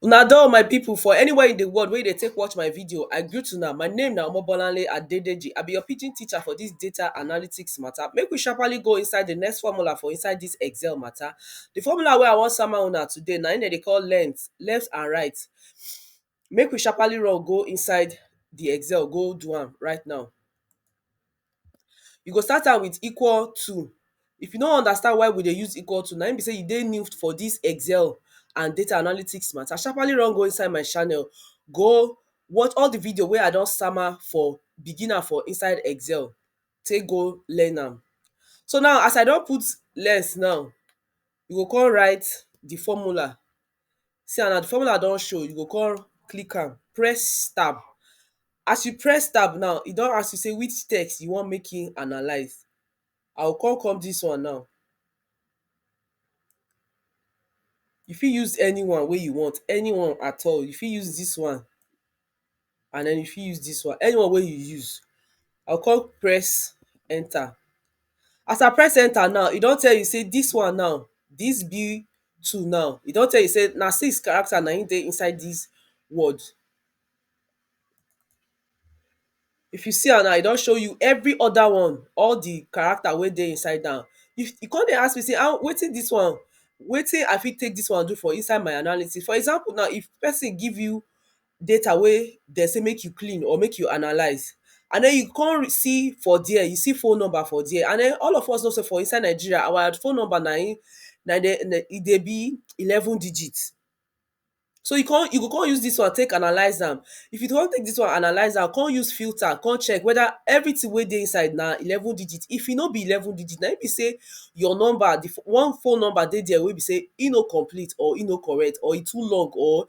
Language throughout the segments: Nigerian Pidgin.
Una do my people for anywhere in the world where you dey take watch my video, I greet una. My name na Omobolanle Adedeji. I be your pidgin teacher for this data analytics matter. Make we sharply go inside the next formula for inside this Excel matter. The formula wey I wan sama una today na im dem dey call length, left and right. Make we sharpaly run go inside di excel go do am right now. You go start am with equal to, if you no understand why we dey use equal to na im be sey you dey new for dis excel and data analytics mata, sharpaly run go inside my channel go watch all de video wey I don sama for beginner for inside excel take go learn am. So now as I don put less now, you go come write de formula. See am na di formula don show you go kon click am press tab. As you press tab now e don ask you sey which text you want make im analyse, I go kon come dis one now, you fit use anyone wey you want, anyone at all, you fit use dis one. and den you fit use dis one, any one wey you use I go come press enter as I press enter now e don tell you sey dis one now dis B two now e don tell you sey na six character na im dey inside dis word If you see am now, e don show you every other one. All the character wey dey inside am. If you con dey ask me sey how wetin dis one wetin I fit take dis one do for inside my analysis? For example now, if person give you data wey de say make you clean or make you analyse and den you con see for dere, you see phone number for dere. And den all of us know sey for inside Nigeria, our phone number na im na im de e dey be eleven digit. So you come you go come use this one take analyze am if you don take this one analyze am come use filter come check whether everything wey dey inside na eleven digit if e no be eleven digit na im be say your number the one phone number dey there wey be say e no complete or e no correct or e too long or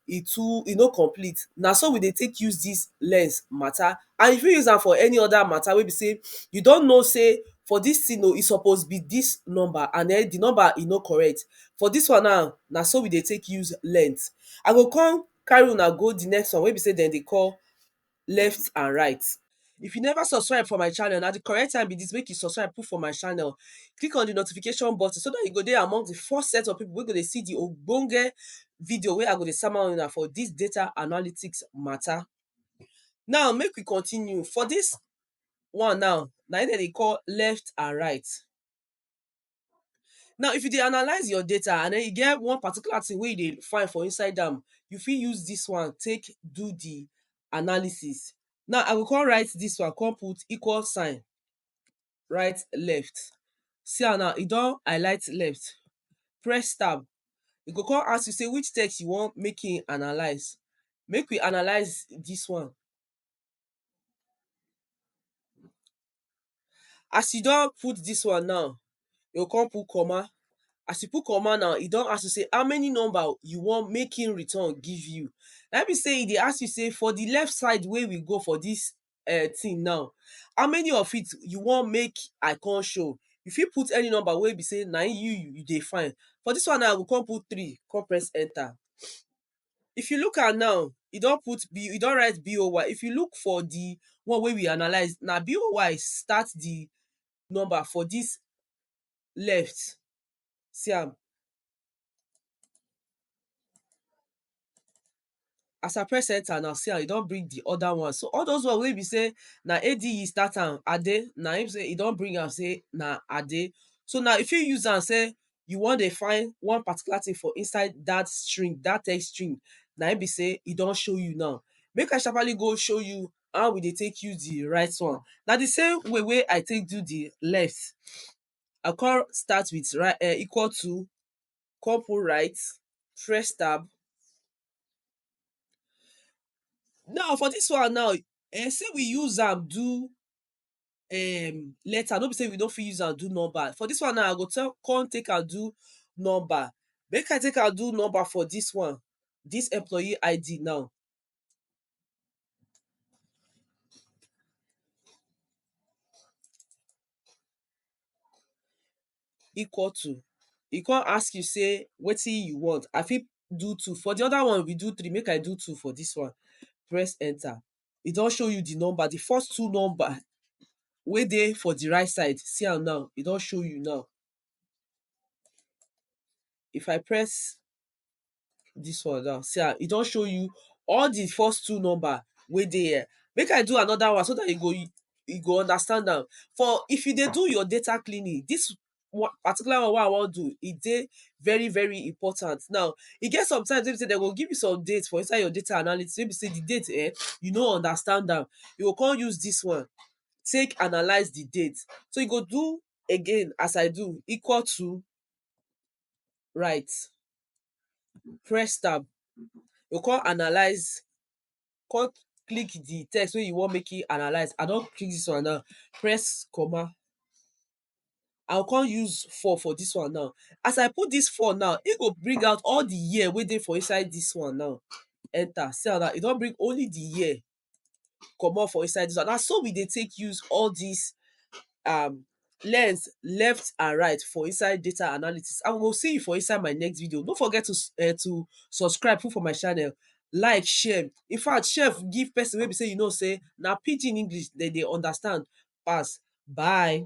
e too e no complete na so we dey take use this lens matter and you fit use am for any other matter wey be say you don know say for this thing o e suppose be this number and then the number e no correct for dis one now, na so we dey take use length. I go come carry una go the next one wey be sey dem dey call left and right. If you never subscribe for my channel, na the correct time be dis make you subscribe put for my channel. Click on the notification button so dat you go dey among the first set of people wey go dey see the ogbonge video wey I go dey sama una for dis data analytics matter. Now make we continue. For dis one now, na im dem dey call left and right. Now if you dey analyse your data and den e get one particular thing wey you dey find for inside am, you fit use dis one take do di analysis. Now I go come write dis one come put equal sign write left. See am now e don highlight left. Press tab, e go come ask you sey which text you wan make im analyse. Make we analyse dis one. As you don put dis one now, you go come put comma. As you put comma now, e don ask you sey how many number you want make im return give you. Na im be sey e dey ask you sey for the left side wey we go for dis um thing now, how many of it you want make I con show? You fit put any number wey be sey na im you you dey find. For dis one now, I go con put three con press enter. if you look am now e don put B e don write BOY if you look for di one wey we analyse na BOY start di number for dis left see am as I press enter now see am e don bring di other one so all those one wey be sey na AD e start am Ade na im be sey e don bring am sey na Ade so now you fit use am sey you wan dey find one particular thing for inside dat string, dat text string na im be sey e don show you now. Make I sharpaly go show you how we dey take use the right one. Na the same way wey I take do the left, I con start with right um equal to, con put right, press tab. Now, for dis one now, um sey we use am do um letter no be say we no fit use am do number for this one now i go tell come take am do number make i take am do number for this one this employee ID now equal to e come ask you say wetin you want i fit do two for the other one we do three make i do two for this one press enter e don show you di number, di first two number wey dey for di right side, see am now, e don show you now. If I press dis one now, see am, e don show you all di first two number wey dey here. Make I do another one so dat you go you go understand am. For if you dey do your data cleaning, dis one particular one wey I wan do e dey very very important now e get sometimes wey be sey dem go give you some date for inside your data analysis wey be sey di date um you no understand am you go come use dis one take analyse di date so you go do again as I do equal to right press tab you go come analyse come click di text wey you want make e analyse I don click dis one now press comma I go come use four for dis one now. As I put dis four now, e go bring out all di year wey dey for inside dis one now enter. See am now, e don bring only di year comot for inside dis one. Na so we dey take use all dis um learns left and right for inside data analysis. And we go see you for inside my next video. No forget to um to subscribe put for my channel, like, share. In fact, share give pesin wey be sey you know sey na pidgin English de dey understand pass. Bye!